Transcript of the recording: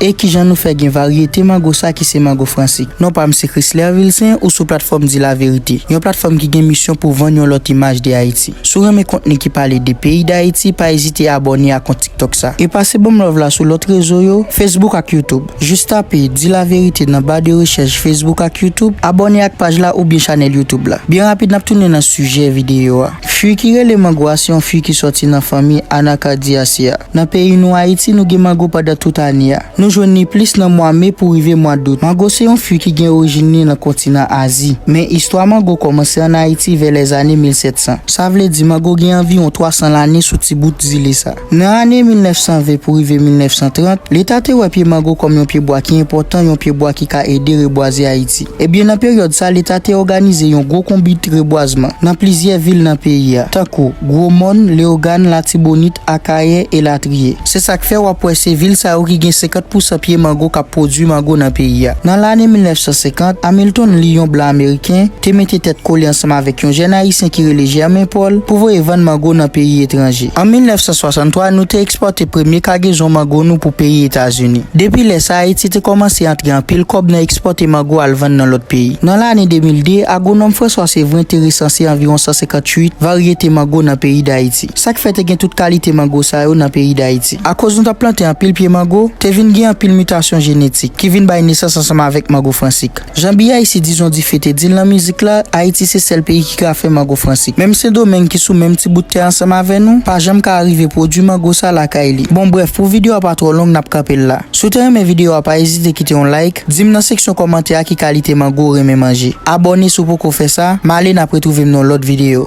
E kijan nou fè gen varyete mango sa ki se mango fransik? Non pa m se Chrisler Vilcin, ou sou platfòm Di La Vérité, yon platfòm ki gen misyon pou vann yon lòt imaj de Ayiti. Si w renmen kontni ki pale de peyi Dayiti, pa ezite abòne a kont TikTok sa. E pase ban m love la sou lòt rezo yo, Facebook ak YouTube. Jis tape Di La Vérité nan ba de rechèch Facebook ak YouTube, abòne ak paj la oubyen chanèl YouTube la. Byen rapid n ap tounen nan sijè videyo a. Fwi ki rele mango a se yon fwi ki sòti nan fanmi Anacardiaceæ. Nan peyi nou Ayiti nou gen mango pandan tout ane a. Nou jwenn li plis nan mwa me pou rive mwa dout. Mango se yon fwi ki gen orijin li nan kontinan Azi. Men istwa mango kòmanse an Ayiti vè lèzane 1700. Sa vle di mango gen anviwon 300 lane sou ti bout zile sa. Nan ane 1920 pou rive 1930, Leta te wè pye mango kòm yon pyebwa ki enpòtan, yon pyebwa ki ka ede rebwaze Ayiti. Ebyen nan peryòd sa, Leta te òganize yon gwo konbit rebwazman nan plizyè vil nan peyi a, tankou, Gwo Mòn, Leyogàn, Latibonit, Akayè, elatriye. Se sa k fè w ap wè se vil sa yo ki gen 50 pousan pye mango k ap pwodui mango nan peyi a. Nan lane 1950, Hamilton Lee, yon blan ameriken, te mete tèt kole ansanm avèk yon jèn ayisyen ki rele Germain Paul pou voye vann mango nan peyi etranje. An 1963, nou te ekspòte premye kagezon mango nou pou peyi Etazini. Depi lè sa a, Ayiti te kòmanse antre anpil kòb nan ekspòte mango al vann nan lòt peyi. Nan lane 2002, agwonòm François Séverin te resanse anviwon 158 varyete mango nan peyi Dayiti. Sa k fè te gen tout kalite mango sa yo nan peyi Dayiti? Akoz nou t ap plante anpil pye mango, te vin gen anpil mitasyon jenetik, ki vin bay nesans ansanm avèk mango fransik. Jan BIC dizon dife te di l nan mizik la, Ayiti se sèl peyi ki ka fè mango franse. Menm Sendomeng ki sou menm ti bout tè ansanm avè nou, pa janm ka arive pwodui mango sa lakay li. Bon brèf, pou videyo a pa twò long n ap kanpe l la. Si w te renmen videyo a pa ezite kite yon like, di m nan seksyon kòmantè a ki kalite mango ou renmen manje. Abòne si w poko fè sa, m ale n ap retwouve m nan yon lòt videyo.